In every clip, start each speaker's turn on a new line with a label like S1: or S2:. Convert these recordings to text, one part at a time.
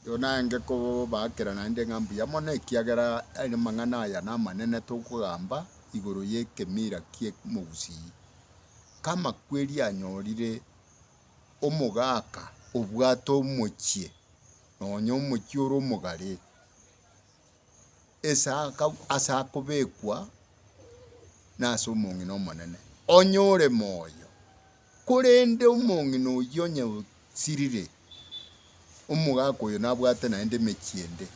S1: Yono aenge kobaakera naende ng'a mbuya mono, ekiagera amang'ana aya namanene tokogamba igoro y'ekemira ki'omogusii, k'amakweri anyorire omogaaka obwate omochie, nonya omochie ore omogare, ase ase akobekwa nase omong'ina omonene, onye ore moyo. Korende omong'ina oyio onye osirire, omogaka oyo nabwate naende emechie ende,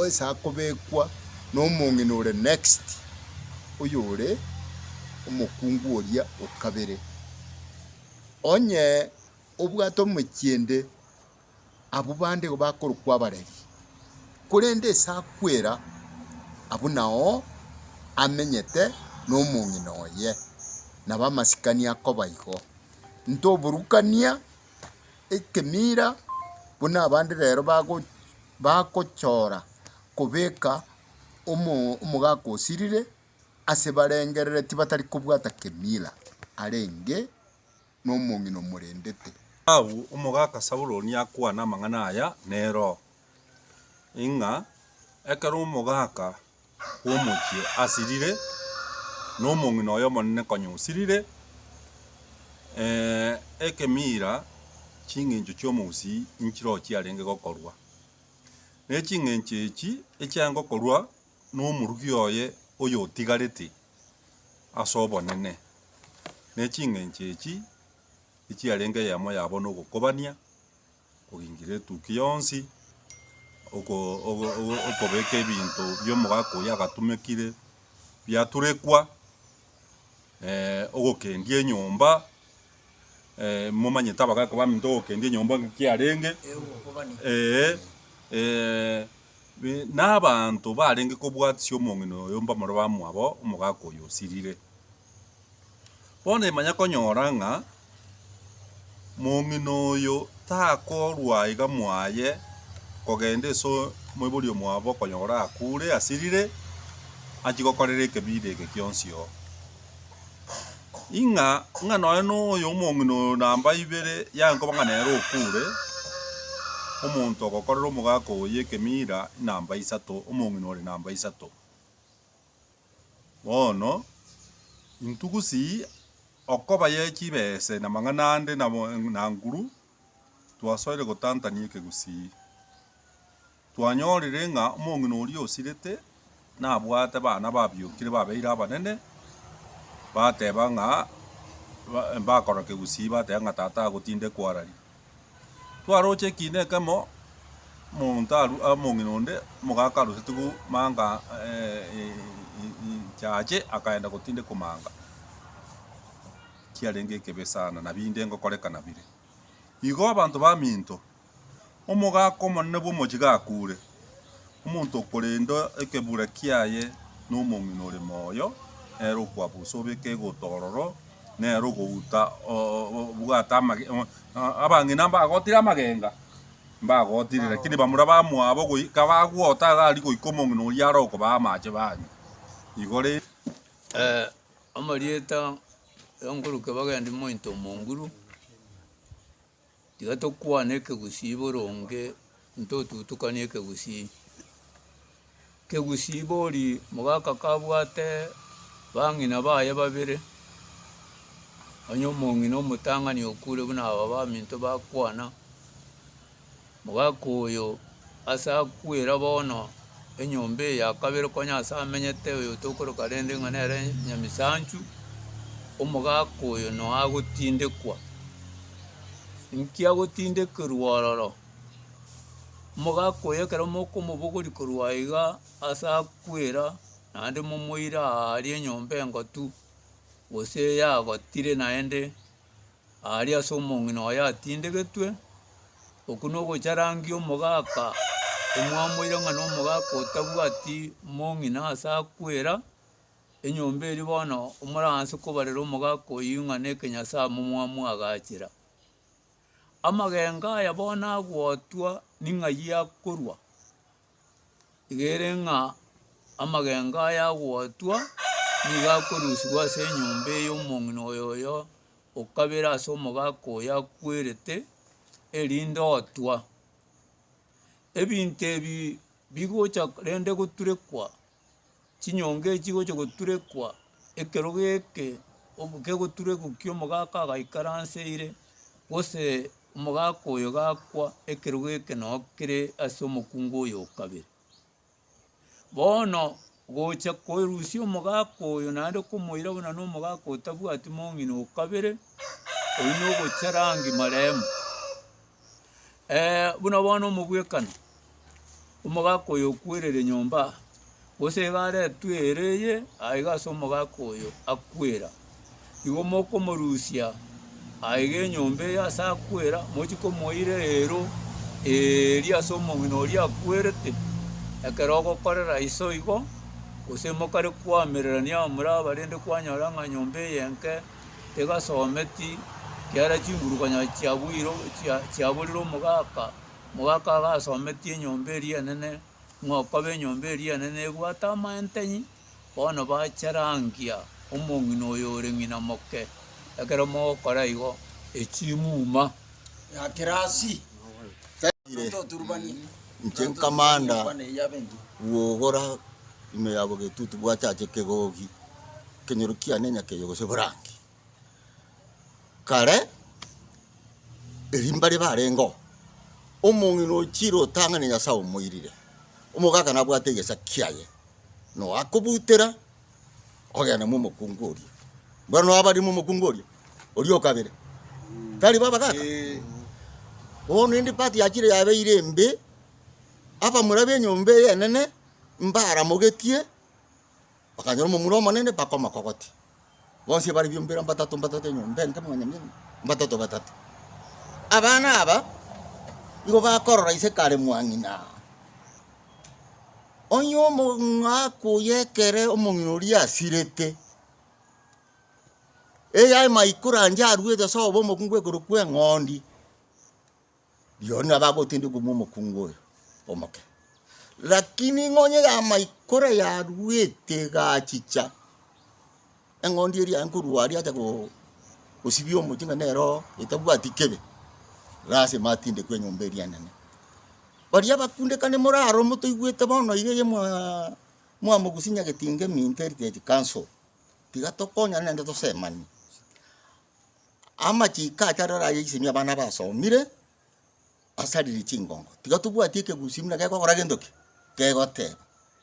S1: onsi akobekwa nomong'ina ore next, oyore omokungu oria okabere. Onye obwate omechie ende. Abwo bande igo bakorokwa abareri, korende ase akwera abwo nao amenyete nomong'ina oye, na bamasikani akoba igo. Ntoborukania ekemira buna abande rero bago bagochora kobeka omo omogaka osirire ase barengerereti batari kobwata kemira arenge. nomong'ina omorendete. Agwo omogaka Saulo nigo akwane amang'ana aya neroho, ng'a ekero omogaka bw'omochie asirire, na omong'ina oy'Omonene konya osirire, ekemira ching'encho chi'omogusii nchirochio chiarenge gokorwa. Ne ching'encho echi echiarenge gokorwa nomoruki oye oyotigarete as'obonene, ne ching'encho echi echiarenge eyemo yabo nogokobania, kogingira etukia yonsi, okobeka ebinto bi'omogaka oyio agatumekire biaturekwa, ogokendia enyomba. momanyete abagaaka baminto ogokendia enyomba ng'a ki yarenge, ee, ee, na abanto barenge kobwatisia omong'ina oyo mbamore bamwabo omogaaka oyo osirire. Bono imanya konyora ng'a mong'ina oyo takorwa iga mwaye kogenda ase omoibori omwabo okonyora akure asirire, achia gokorera ekebi ere eke kionsi oo. ing'a ing'a nonya na oyo omong'ina oyo namba ibere yaye nkoba ng'a nere okure, omonto ogokorera omogaka oye ekemira namba isato, omong'ina ore namba isato. Bono intwe gusii okobaye chibese na amang'ana ande nabo na nguru twasoire gotantania ekegusii. Twanyorire ng'a omong'ina oria osirete nabwate bana babiokire babeire abanene, bateba ng'a mbakora kegusii bateba ng'a tata agotinde kwararia. Twaroche ekiina ekemo omonto arwe omong'ina onde omogaka arosetiwu manga chache akagenda gotinde komanga kiarenge ekebe sana nabi inde ngokoreka nabire. Igo abanto baminto. Omogaaka omonene bw'omochie gakuure, omonto okorenda ekebura kiaye nomong'ina ore moyo, nere okwabusa obeke egouta ororo, nere ogouta obwate abang'ina mbagotire amagenga, mbagotire, lakini bamura bamwabo goika bagwota iga aria goika omong'ina oria are okobaa amache banywe. Igo rende. Amarieta, Enkuruke bagendi mointo omonguru. Tiga tokwane ekegusii boronge ntotutukanie ekegusii. Kegusii bori mogaka kabwate bang'ina baye babere, onye omong'ina omotang'ani okure buna aba baminto bakwana. Mogaka oyo ase akwera bono enyomba eye ya kabere konya ase amenyete oyo tokoroka rende ng'a nere nyamisanchu, omogaka oyo noagotindekwa. Inki agotindekerwa ororo? Omogaka oyo ekero mokomobogoria korwa aiga ase akwera naende momoire aa aria enyomba engotu gose yagotire naende. Aria ase omong'ina oye atindegetwe, okwo nogocharangia omogaka omwamoire ng'a nomogaka otabwati mong'ina ase akwera, enyomba eria bono moranse kobarera omogaka oyio ng'a na ekenyasamo mwamwagachera. Amagenga aya bono agotwa ning'ayio akorwa. Igere ng'a amagenga aya agotwa, nigo akorusigwa ase enyomba ey'omong'ina oyo oyo okabere ase omogaka oyo akwerete, erinde otwa. Ebinto ebi bigocha rende goturekwa. chinyonga echi chigocha goturekwa ekero geke obo kegoturekwa ki omogaka agaikara nse ire gose omogaka oyo gakwa ekero geke noo kere ase omokungu oyo o kabere. Bono gocha korusia omogaka oyo naende komoira buna na omogaka otabwati mong'ina o kabere oyio nogocha rangi marembe. buna bono omogwekano, omogaka oyo okwerire nyomba aa, gose iga aretwe ere eye, aiga ase omogaka oyo akwera, igo mokomorusia aiga enyomba eye ase akwera, mochi komoira eero eeria ase omong'ina oria akwerete, ekero ogokorera iso igo, gose mokare koamererania abamura aba rende kwanyora ng'a nyomba eye enke. tegasometi kiara chinguru konya chiabuire chia chiaburire omogaka, omogaka agasometi enyomba eria enene ng'a okoba enyomba eria enene ebwate amaenteng'i bono bacherangia omong'ina oyo ore ng'ina moke ekero mogokora igo echimuma ya kirasi Inche nkamanda gokora. Ime yabo getutu bwachache kegogi, ekenyoro kiane nyakeyo gose borangi. Kare erio mbare barengeo, omong'ina ochire otang'ane Nyasae omoirire, omogaka nabwate egesa kiaye, noakobutera ogenda momokungu oria. Mbwenu abare momokungu oria, oria okabere, tari bo abagaka? Bono ende part yachire yabeire embe, abamura b'enyomba ey'enene Mbaramogetie, bakanyora omomura omonene, bakomokogotia. Bonsi bare biombera mbatato mbatato enyomba ende mwanyaminto, mbatato batato. Abana aba igo bakorora ise kare mwang'ina. Onye omong'aku oye ekere omong'ina oria asirete, eyaye maikoro ancha aruete ase obobe omokungu ekero kw'eng'ondi, Rirorio nabo agotendia okomua omokungu oyo omoke. Lakini ing'onye yamaikora yaruete egachicha, eng'ondi eria yaye nkorwa aria acha go- gosibia omochie ng'a nero etabwati kebe, lasima atindekwe enyomba eria enene. Baria abakundekani moraro motoigwete bono iga eye mwaa mwamogusia nyagetinga eminto eriteti council, tiga tokonyane naende tosemanie. Amachiiko acha rero ayaisemia abana basomire basarire chingongo. Tiga tobwati ekegusii buna gekogora gento ki? Gegoteba,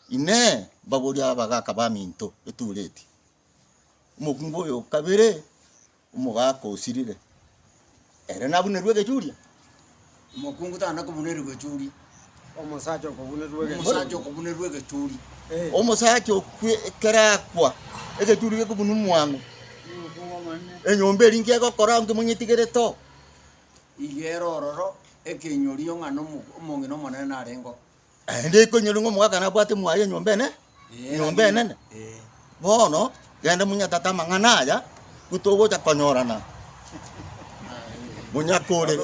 S1: Inee! Mbaborie abagaka baminto etura eti, Omokungu oyo o kabere omogaka osirire, ere nabunerwe egechuria? Omokungu tana kobunerigwa echuri. Omosacha okobunerigwa egechuri. Omosacha okobunerigwa egechuri. Omosacha okerakwa egechuri gekobunwa omwango. Enyomba eri inki egokora onge monyetigerete oo? Igere ororo ekenyori ong'ana omong'ina omonene narengeo. Naende ekonyora ng'a omogaka nabwate mwaye enyomba ene enyomba enene, bono genda monyatate amang'ana aya, intwe togocha konyorana monyakorere.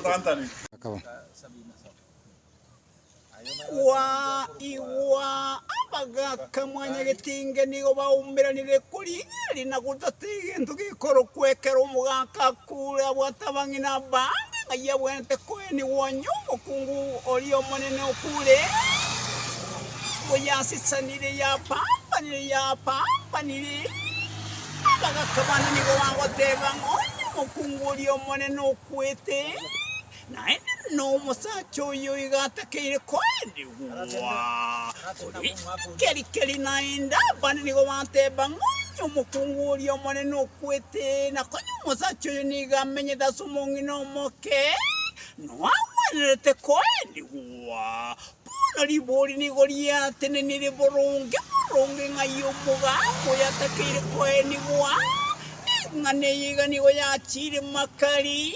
S1: Kwaigwa abagaka mwanyagetinga nigo baumeranire korigereria na gotatia egento gekorokwa ekero omogaka Kura bw'atabang'ina bande ng'ai abwenerete koenigwa onye omokungu oria omonene okure, nigo yasisanire yapambanire, yapambanire, abagaka bande nigo bagoteba ng'a onye omokungu oria omonene okwete. Naende nomosacha oyo iga atakeire koenigwa. Korende keri-keri naende abande nigo bateba ng'a onye omokungu oria omonene okwete, na konya omosacha oyo nigo amenyete ase omong'ina omoke, noagwenerete koenigwa. Bono ribori nigo riatenenirie boronge boronge ng'a aye omogaka oyo atakeire koenigwa, na ing'ana eye iga nigo yachiire Makari,